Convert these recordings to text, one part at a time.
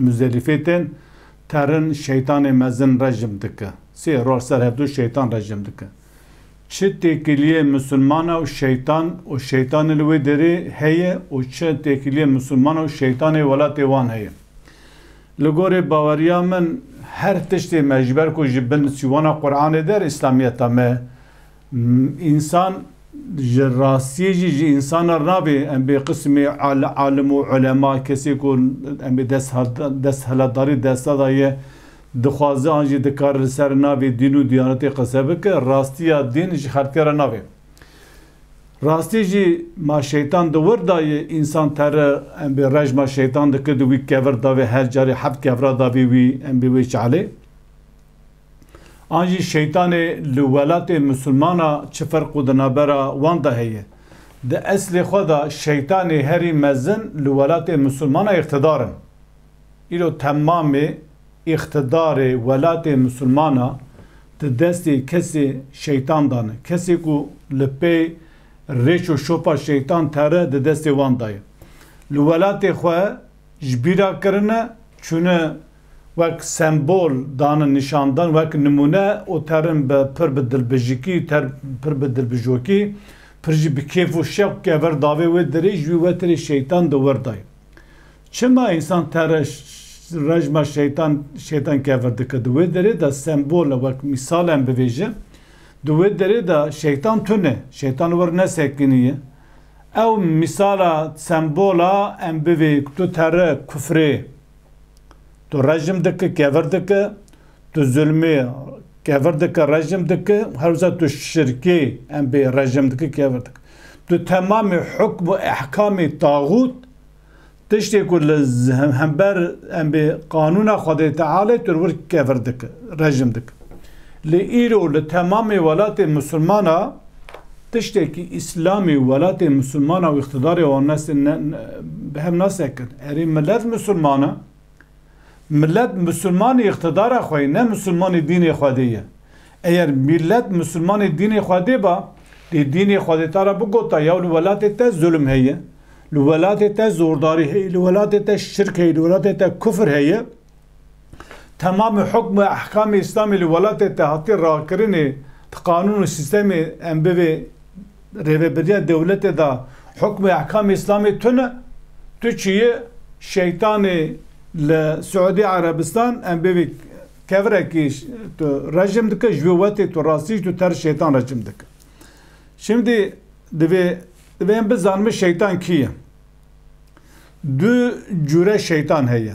Muzerîfê tên terin şeytanê mezin rejim dike. Sê roj ser hevdu şeytan rejim dike. Çi têkiliyê musulmana û şeytan û şeytanê li wê derê heye û çi têkiliyê musulmana û şeytanê welatê wan heye. Li gorê baweriya min her tiştê me ji ber ku ji bin sîwana Quranê der îslamiyeta me Însan ji rastiyê jî ji însan re nabê em bê qisimê alim û ulema, kesê ku em bê desthilatdarî desta daye, dixwaze an jî dikare li ser navê dîn û diyanetê qise bike, rastiya dîn ji xelkê re nabê. Rastiyê jî ma şeytan di wir dayê însan tere em bê rejma şeytan dike di wî kevir davê her carê heft kevra davê wî em bê wê çalê. An jî şeytanê li welatê misilmana çi ferqo di navbera wan de heye? Di eslê xwe de şeytanê herî mezin li welatê misilmana îqtidar in. Îro temamê îqtidarê welatê misilmana di destê kesê şeytan de ne. Kesê ku li pey rêç û şopa şeytan teri di destê wan de ye. Li welatê xwe ji bîra kirine, çûne wek sembol danin nîşan dan wek nimûne û terin bi pir bi dilbijikî ter pir bi dilbijokî pir jî bi kêf û şewqê ver davê wê dirê ji wî wetirê şeytan di wir dayê. Çima însan tere rejma şeytan şeytan ke vir dike di wê derê de sembole wek mîsale em bivêjin di wê derê de şeytan tune şeytan wir nesekiniye ew mîsala sembola em bivê tu tere kufrê Tu rejim dike kevir dike, tu zulmê kevir dike rejim dike, herwisa tu şirkê em bê rejim dike kevir dike. Tu temamê hukm û ehkamê taxût tiştê ku li hember em bê qanûna Xwedê Tealê tu wir kevir dike, rejim dike. Lê îro li temamê welatê misilmana Tiştekî Îslamê welatê Musulman a û îqtîdarê wan nesê ne bi hev nasekin. Erê milet Musulman e. Milet Musulmanê îqtîdara xwe yê ne Musulmanê dînê Xwedê ye. Eyer mîlet Musulmanê dînê Xwedê ba, dê dînê Xwedê ta ra bigota yaw li welatê te zulm heye, li welatê te zordarî heye, li welatê te şirk heye, li welatê te kufr heye, Temamê hukm û ehkamê Îslamê li welatê te hatiye rakirinê, di qanûn û sîstemê em bivê rêveberiya dewletê de hukm û ehkamê Îslamê tune? Tu çi yî? Şeytanê li Siûdî Erebistan em bivê kevirekî tu rejim dike, ji vê wetê tu rastî jî tu terz şeytan rejim dike. Şimdî divê divê em bizanimin şeytan kî ye? Du cûre şeytan heye.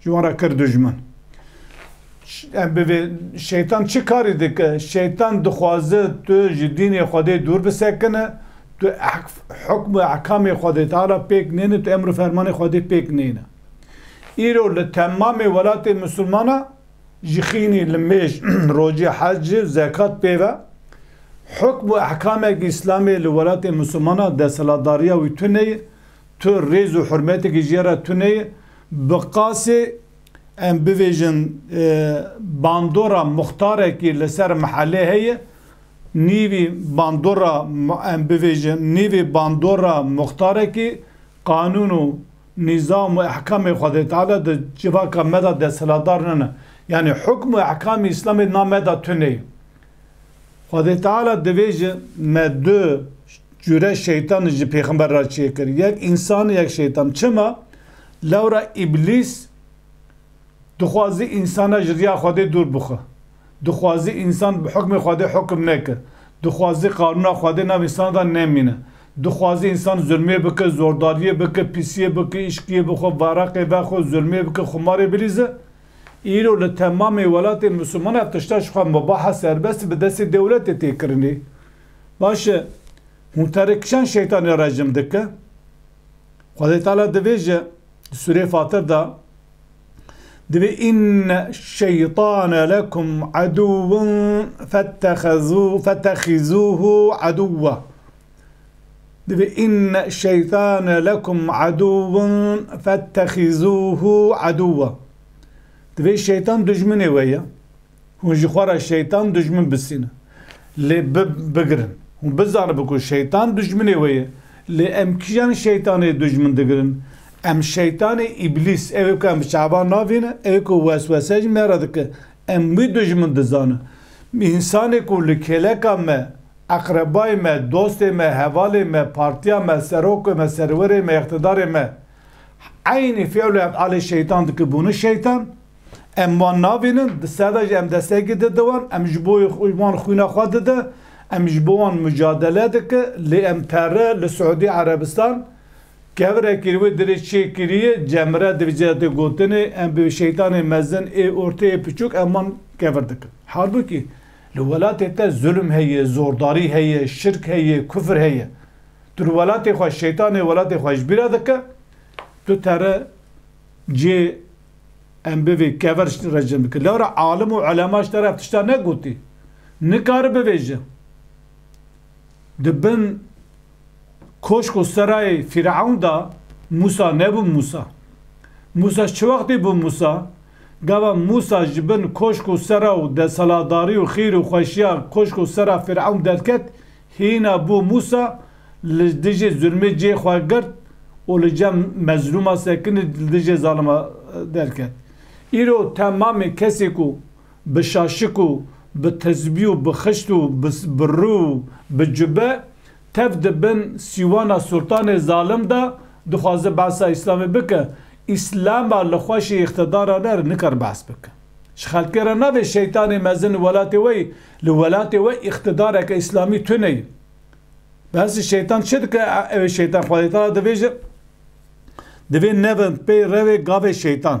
Ji wan re kir dijmin. Em bi vê şeytan çi karî dike? Şeytan dixwaze tu ji dînê Xwedê dûr bisekine, tu hukm û ehkamê Xwedê Teala pêk nêne, tu emr û fermanê Xwedê pêk nêne. Îro li temamê welatê misilmana ji xînî li mêj, rojê hec, zekat pêve hukm û ehkameke Îslamê li welatê misilmana desthilatdariya wî tune ye, Tu rêz û hurmetekî jê re tune ye. Bi qasê em bivêjin bandora muxtarekî li ser mihelê heye. Nîvî bandora em bivêjin nîvî bandora muxtarekî qanûn û nîzam û ehkamê Xwedê Teala di civaka me de desthilatdar nene. Yanî hukm û ehkamê Îslamê di nav me de tune ye. Xwedê Teala divê ji me du cure şeytan ji pêxember re çêkir, yek însan û yek şeytan. Çima? Lewra îblîs dixwazî însanan ji riya Xwedê dûr bixwe. Dixwazî însan bi hukmê Xwedê hukm neke. Dixwazî qanûna Xwedê nav însanan de nemîne. Dixwazî însan zulmê bike, zordariyê bike, pîsiyê bike, îşkiyê bixwe, varaqê vexwe, zulmê bike, xumarê bilîze. Îro li temamê welatên Misliman ev tişta ji xwe mubaha serbest bi destê dewletê tê kirinê. Baş e, hûn terê kişan şeytanê rejim dike? Xwedê Teala dibêje di sûreyê Fatir de, Divê inne şeytane lekum edûwun fettexizûhu edûwa. Divê inne şeytane lekum edûvun fettexîzûhû edûva. Divê şeytan dijminê we ye. Hûn ji xwe re şeytan dijmin bisînin. Lê bigirin. Hûn bizanibin ku şeytan dijminê we ye. Lê em kîjan şeytanê dijmin digirin? Em şeytanê îblîs, ew ê ku em bi çavan navînin, ew ê ku weswese ji me re dike, em wî dijmin dizanin. Însanê ku li kêleka me Eqrebayê me, dostê me, hevalê me, partiya me, serokê me, serwerê me, îqtidarê me eynî fîl û efalê şeytan dikin bûne şeytan. Em wan nabînin, di ser ve jî em destekî didin wan, em ji bo wan xwîna xwe didin, em ji bo wan mucadele dikin lê em pere li Siûdî Erebistan kevirekî li wê dirê çê kiriye cemre divije di gotinê em bi şeytanê mezin ê ortê ê piçûk em wan kevir dikin. Halbûkî. Li welatê te zulm heye, zordarî heye, şirk heye, kufr heye. Tu li welatê xwe Şeytanê welatê xwe ji bîr re dike, tu tere cê em bivê kever ji te re cem bike. Lewre alim û ulema ji te re ev tiştan negotî. Nikare bivêje. Di bin koşk û serayê Fîrewn de Mûsa nebû Mûsa. Mûsa çi wextê bû Mûsa? Gava Mûsa ji bin koşk û sera û desaladarî û xîr û xweşiya koşk û sera Fîrewn derket, hîna bû Mûsa li dijî zulmê cihê xwe girt û li cem mezlûma sekinî li dijê zalima derket. Îro temamê kesê ku bi şaşik û bi tizbî û bi xişt û bi rû û bi cube Tev di bin sîwana Sultanê zalim de dixwaze behsa Îslamê bike, Îslama li xweşê îqtidara ne re nikare behs bike. Ji xelkê re navê şeytanê mezin li welatê we yî, li welatê we îqtidareke Îslamî tune yî. Behsê şeytan çi dike? Ew ê şeytan xwedê te de divêjin, divê nevin pey rewê gavê şeytan.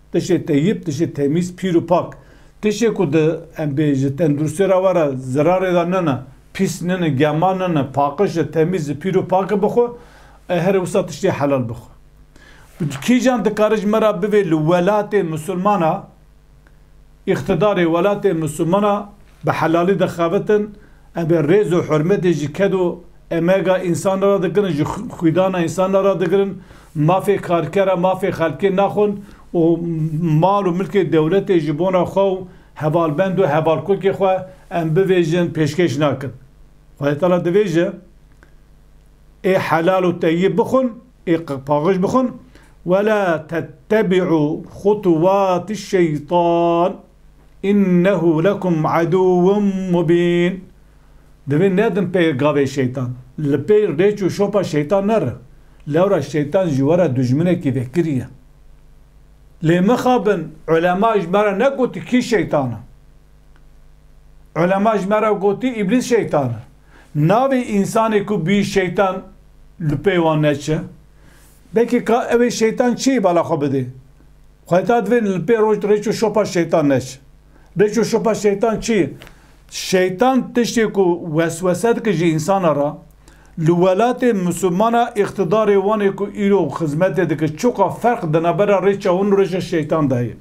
Tiştê teyîb, tiştê temîz, pîr û pak. Tiştê ku di em bê ji tenduristiyê re were zirarê de nene, pîs nene, gema nene, paqiş e, temîz e, pîr û pak e bixwe, ê herê wisa tiştê helal bixwe. Kîjan dikare ji me re bivê li welatê misilman a, Îqtîdarê welatê Misûmana bi helalî dixebitin, em ê rêz û hurmetê ji ked û emega însan re radigirin, ji xwîdana însan re radigirin, mafê karkera, mafê xelkê naxwin û mal û milkê dewletê ji bona xwe û hevalbend û hevalkokê xwe em bivêjin pêşkêş nakin. Xwedê tala divêje. ê helal û teyyib bixwin, ê qirpaxij bixwin, wela tettebi'u xutuvati'ş-şeytan innehu lekum aduvun mubîn, divê nedin pê gavê şeytan, li pê rêç û şopa şeytan nerin, lewra şeytan ji we re dijminekî vekirî ye. Lê mixabin ulema ji me re negotî kî şeytan in? Ulema ji me re gotî îblîs şeytan in. Navê însanê ku bûyî şeytan li pê wan ne çi? Belkî ka ew ê şeytan çiyê bala xwe bidê. Xwe heta divê li pê roj rêç û şopa şeytan ne çi. Rêç û şopa şeytan çi ye? Şeytan tiştê ku weswese dike ji însana re, li welatê misilmana îqtidarê wan ê ku îro xizmetê dike çiqas ferq di navbera rêça wan û rêça şeytan de heye.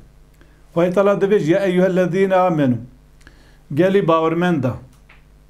Xwedî Teala divê ji ya eyyuhellezîne amenû, gelî bawermenda.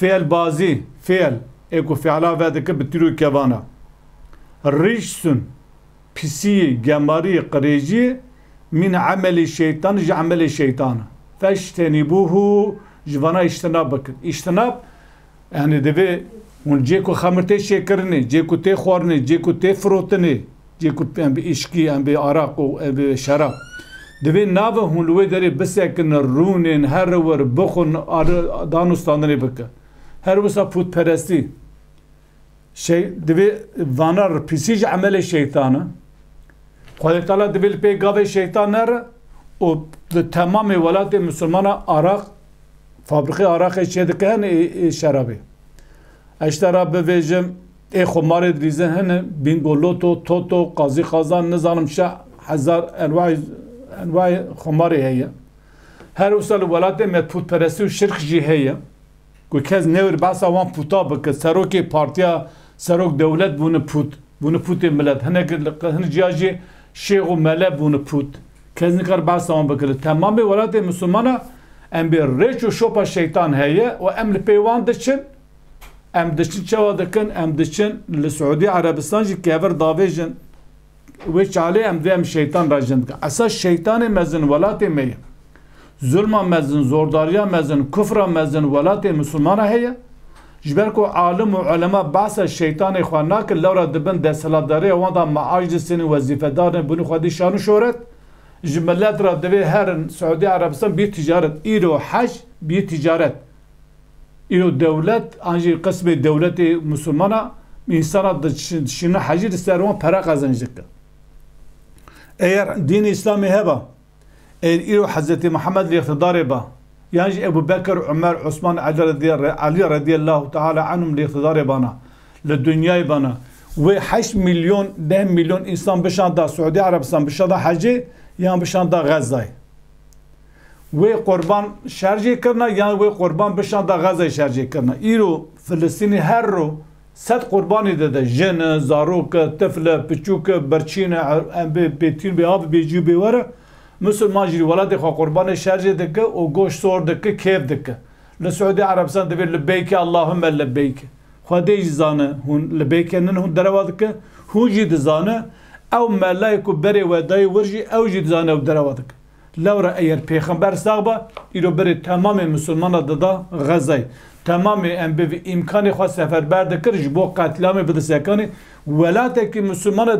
Fêlbazî, fêl, ê ku fiala vedike bi tîr û kevan e. Rîşsun, pisîyî, gemarî, qirêjî, mîn emelî şeytan ji emelê şeytan e. Feştenîbûhû, ji vana îştinab bikin. Îştinab, yanî divê hûn cê ku xemir tê şêkirinê, cê ku tê xwarinê, cê ku tê firotinê, Cihê ku em bi îşkî, em bi araq û em bi şerab divê navin hûn li wê derê bisekin, rûnên her li wir bixwin, dan û standinê bikin. Her wisa pûtperestî divê vana re pîsî ji emelê şeytan e. Xwedê Teala divê li pê gavê şeytan nere û di temamê welatê misilmanan araq fabrîkê araqê çêdikin ê şerabê. Eştera bivêjim. Ê xo malê dirîze hene, bîngo, loto, toto, qazî qazan, nizanim şa, hezar enway enway xomarê heye. Her wisa li welatê me pûtperestî û şirk jî heye. Ku kes newir behsa wan pûta bike. Serokê partiya serok dewlet bûne pût. Bûne pûtê milet. Hinek hin jiya jî şêx û mele bûne pût. Kes nikare behsa wan bike. Li temamê welatê misilmana em bê rêç û şopa şeytan heye û em li pê wan diçin. Em diçin çawa dikin? Em diçin li Siûdî Erebistan jî kevir davêjin. Wê çalê em dê em şeytan re jin dikin. Esa şeytanê mezin welatê me ye. Zulma mezin, zordariya mezin, kufra mezin welatê Misilmana heye. Ji ber ku alim û ulema behsa şeytanê xwe nakin, lewra di bin desthilatdariya wan de meaj disênin, wezîfedar in, bûnê xwedî şan û şohret. Ji milet re divê herin Siûdî Erebistan biyê ticaret. Îro hej biyê ticaret. Îro dewlet an jî qismê dewletê misûlman a, însanan dişînin hecî li ser wan pere qezenc dikin. Eger dînê îslamê heba, eger îro Hezretê Mihemed li îqtidarê ba, yan jî Ebû Bekir, Umer, Osman, Elî redîyellahû teala enhûm li îqtidarê bana, li dinyayê bana, wê heşt mîlyon, deh mîlyon însan bişanda Siûdî Erebistan bişanda hecê yan bişanda Xezzayê. Wê qurban şerjê kirina yan wê qurban bişanda Xezayê şerjê kirina. Îro Filistînî her ro sed qurbanî dide, jin, zarok, tifl, piçûk, birçîn, embê, bêtînbê avê, bêcî û bêwere. Musulman jî li welatê xwe qurbanê şerjê dike û goşt sor dike, kêf dike. Li Siûdî Erebistan divê Libeyke Allahumme Libeyke. Xwedê jî zane hûn libeyke nin hûn derewa dike. Hûn jî dizane ew melayê ku berê we dayê wir jî ew jî dizane ew derewa dike. Lewra eyer pêxember sax ba îro berê temamê misilmanan dida Xezayê. Temamê em bi vî îmkanê xwe seferber dikir ji bo qetliamê bide sekanê. Welatekî misilmane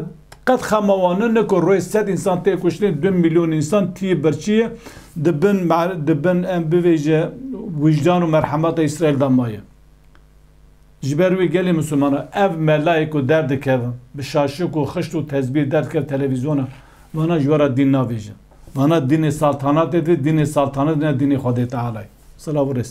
qet xema wan nine ku rojê sed însan tê kuştin, du mîlyon însan tiyê birçiyê di bin di bin em bivêje wijdan û merhemeta Îsraîl de maye. Ji ber wî gelê misilmanan ev melayê ku derdikeve bi şaşik û xişt û tezbîr derdikeve televîzyona Vana ji we re dîn navêjin. Vana dînê saltanatê dînê saltanat ne dînê Xwedê Tealay. Silav û rêz.